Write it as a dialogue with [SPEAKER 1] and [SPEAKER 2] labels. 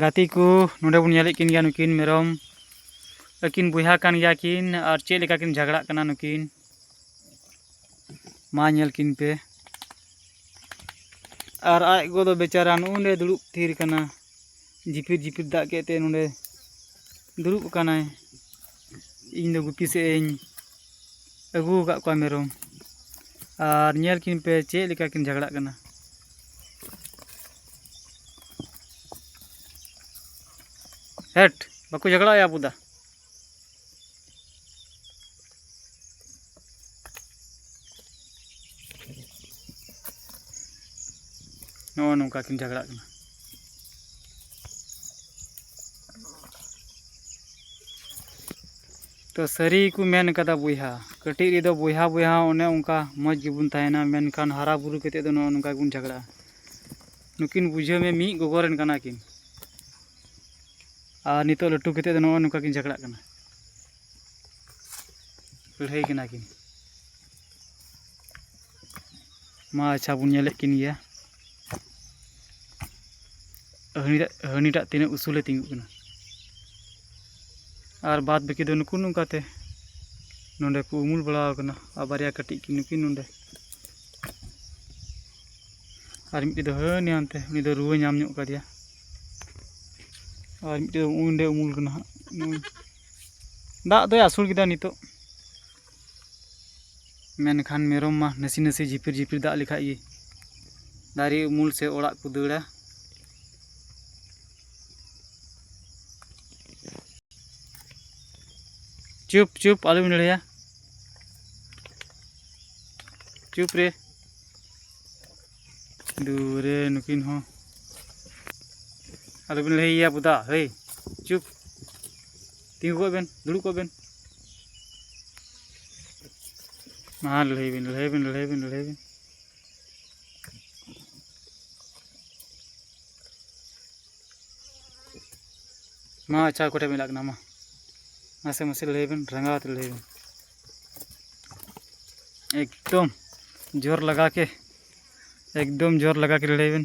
[SPEAKER 1] ᱜᱟᱛᱮ ᱠᱚ ᱱᱚᱰᱮ ᱵᱚᱱ ᱧᱮᱞᱮᱫ ᱠᱤᱱ ᱜᱮᱭᱟ ᱱᱩᱠᱤᱱ ᱢᱮᱨᱚᱢ ᱟᱹᱠᱤᱱ ᱵᱚᱭᱦᱟ ᱠᱟᱱ ᱜᱮᱭᱟ ᱠᱤᱱ ᱟᱨ ᱪᱮᱫ ᱞᱮᱠᱟ ᱠᱤᱱ ᱡᱷᱟᱜᱽᱲᱟᱜ ᱠᱟᱱᱟ ᱱᱩᱠᱤᱱ ᱢᱟ ᱧᱮᱞ ᱠᱤᱱ ᱯᱮ ᱟᱨ ᱟᱡ ᱜᱚ ᱫᱚ ᱵᱮᱪᱟᱨᱟ ᱱᱚᱜᱼᱚᱸᱰᱮ ᱫᱩᱲᱩᱵ ᱛᱷᱤᱨ ᱠᱟᱱᱟ ᱡᱷᱤᱯᱤᱨ ᱡᱷᱤᱯᱤᱨ ᱫᱟᱜ ᱠᱮᱫ ᱛᱮ ᱱᱚᱰᱮ ᱫᱩᱲᱩᱵ ᱟᱠᱟᱱᱟᱭ ᱤᱧ ᱫᱚ ᱜᱩᱯᱤ ᱥᱮᱫ ᱤᱧ ᱟᱹᱜᱩ ᱟᱠᱟᱫ ᱠᱚᱣᱟ ᱢᱮᱨᱚᱢ ᱟᱨ ᱧᱮᱞ ᱠᱤᱱ ᱯᱮ ᱪᱮᱫ ᱞᱮᱠᱟ ᱠᱤᱱ ᱡᱷᱟᱜᱽᱲᱟᱜ ᱠᱟᱱᱟ ᱦᱮᱴ ᱵᱟᱠᱚ ᱡᱷᱟᱜᱽᱲᱟᱜᱼᱟ ᱟᱵᱚ ᱫᱟ ᱱᱚᱜᱼᱚ ᱱᱚᱝᱠᱟ ᱠᱤᱱ ᱡᱷᱟᱜᱽᱲᱟᱜ ᱠᱟᱱᱟ ᱛᱚ ᱥᱟᱹᱨᱤ ᱜᱮᱠᱚ ᱢᱮᱱ ᱠᱟᱫᱟ ᱵᱚᱭᱦᱟ ᱠᱟᱹᱴᱤᱡ ᱨᱮᱫᱚ ᱵᱚᱭᱦᱟ ᱵᱚᱭᱦᱟ ᱚᱱᱮ ᱚᱱᱠᱟ ᱢᱚᱡᱽ ᱜᱮᱵᱚᱱ ᱛᱟᱦᱮᱱᱟ ᱢᱮᱱᱠᱷᱟᱱ ᱦᱟᱨᱟ ᱵᱩᱨᱩ ᱠᱟᱛᱮ ᱫᱚ ᱱᱚᱜᱼᱚ ᱱᱚᱝᱠᱟ ᱜᱮᱵᱚᱱ ᱡᱷᱟᱜᱽᱲᱟᱜᱼᱟ ᱱᱩᱠᱤᱱ ᱵᱩᱡᱷᱟᱹᱣ ᱢᱮ ᱢᱤᱫ ᱜᱚᱜᱚ ᱨᱮᱱ ᱠᱟᱱᱟ ᱠᱤᱱ ᱟᱨ ᱱᱤᱛᱚᱜ ᱞᱟᱹᱴᱩ ᱠᱟᱛᱮ ᱫᱚ ᱱᱚᱜᱼᱚ ᱱᱚᱝᱠᱟ ᱠᱤᱱ ᱡᱷᱟᱜᱽᱲᱟᱜ ᱠᱟᱱᱟ ᱞᱟᱹᱲᱦᱟᱹᱭ ᱠᱟᱱᱟ ᱠᱤᱱ ᱢᱟ ᱟᱪᱪᱷᱟ ᱵᱚᱱ ᱧᱮᱞᱮᱫ ᱠᱤᱱ ᱜᱮᱭᱟ ᱦᱟᱹᱱᱤᱴᱟᱜ ᱛᱤᱱᱟᱹᱜ ᱩᱥᱩᱞᱮ ᱛᱤᱸᱜᱩᱜ ᱠᱟᱱᱟ ᱟᱨ ᱵᱟᱫ ᱵᱟᱹᱠᱤ ᱫᱚ ᱱᱩᱠᱩ ᱱᱚᱝᱠᱟᱛᱮ ᱱᱚᱰᱮ ᱠᱚ ᱩᱢᱩᱞ ᱵᱟᱲᱟ ᱟᱠᱟᱱᱟ ᱟᱨ ᱵᱟᱨᱭᱟ ᱠᱟᱹᱴᱤᱡ ᱠᱤᱱ ᱱᱩᱠᱤᱱ ᱱᱚᱰᱮ ᱟᱨ ᱢᱤᱫᱴᱤᱡ ᱫᱚ ᱦᱟᱹᱱᱤ ᱦᱟᱱᱛᱮ ᱩᱱᱤ ᱫᱚ ᱨᱩᱣᱟᱹ ᱧᱟᱢ ᱧᱚᱜ ᱠᱟᱫᱮᱭᱟ ᱟᱨ ᱢᱤᱫᱴᱤᱡ ᱫᱚ ᱚᱸᱰᱮ ᱩᱢᱩᱞ ᱠᱟᱱᱟ ᱦᱟᱸᱜ ᱫᱟᱜ ᱫᱚᱭ ᱟᱹᱥᱩᱲ ᱠᱮᱫᱟ ᱱᱤᱛᱚᱜ ᱢᱮᱱᱠᱷᱟᱱ ᱢᱮᱨᱚᱢ ᱢᱟ ᱱᱟᱥᱮ ᱱᱟᱥᱮ ᱡᱷᱤᱯᱤᱨ ᱡᱷᱤᱯᱤᱨ ᱫᱟᱜ ᱞᱮᱠᱷᱟᱡ ᱜᱮ ᱫᱟᱨᱮ ᱩᱢᱩᱞ ᱥᱮ ᱚᱲᱟᱜ ᱠᱚ ᱫᱟᱹᱲᱟ ᱪᱩᱯ ᱪᱩᱯ ᱟᱞᱚᱢ ᱞᱟᱹᱲᱦᱟᱹᱭᱟ ᱪᱩᱯ ᱨᱮ ᱫᱩᱨᱮ ᱱᱩᱠᱤᱱ ᱦᱚᱸ ᱟᱞᱚᱵᱤᱱ ᱞᱟᱹᱭᱟ ᱵᱚᱫᱟ ᱦᱮᱭ ᱪᱩᱯ ᱛᱤᱸᱜᱩ ᱠᱚᱜ ᱵᱮᱱ ᱫᱩᱲᱩᱵ ᱠᱚᱜ ᱵᱮᱱ ᱢᱟ ᱞᱟᱹᱲᱦᱟᱹᱭ ᱵᱤᱱ ᱞᱟᱹᱲᱦᱟᱹᱭ ᱵᱤᱱ ᱞᱟᱹᱲᱦᱟᱹᱭ ᱵᱤᱱ ᱞᱟᱹᱲᱦᱟᱹᱭ ᱵᱤᱱ ᱢᱟ ᱟᱪᱪᱷᱟ ᱚᱠᱚᱭ ᱴᱷᱮᱱ ᱵᱤᱱ ᱞᱟᱜ ᱠᱟᱱᱟ ᱢᱟ ᱢᱟᱥᱮ ᱢᱟᱥᱮ ᱞᱟᱹᱲᱦᱟᱹᱭ ᱵᱤᱱ ᱨᱟᱸᱜᱟᱣ ᱛᱮ ᱞᱟᱹᱲᱦᱟᱹᱭ ᱵᱤᱱ ᱮᱠᱫᱚᱢ ᱡᱳᱨ ᱞᱟᱜᱟ ᱠᱮ ᱮᱠᱫᱚᱢ ᱡᱳᱨ ᱞᱟᱜᱟ ᱠᱮ ᱞᱟᱹᱲᱦᱟᱹᱭ ᱵᱤᱱ